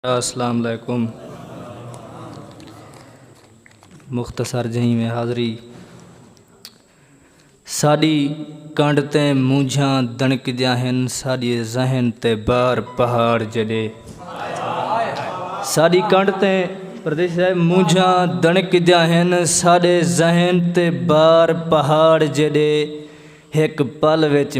اسلام علیکم مختصر جہیں میں حاضری ساڈی کنڈ تے مونجھاں دنکدیاں ہن ساڈی ذہن تے بار پہاڑ جڑے ساڈی کنڈ تے پردیش صاحب مونجھاں دنکدیاں ہن ساڈے ذہن تے بار پہاڑ جڑے ہک پل وچ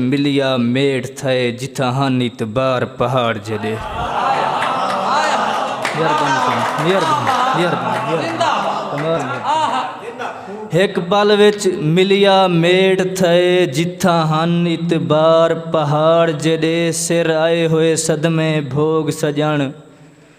ملیا میڈ تھئے جتھاں ہن اتبار پہاڑ جیڈے سر آئے ہوئے صدمے بھوگ سجن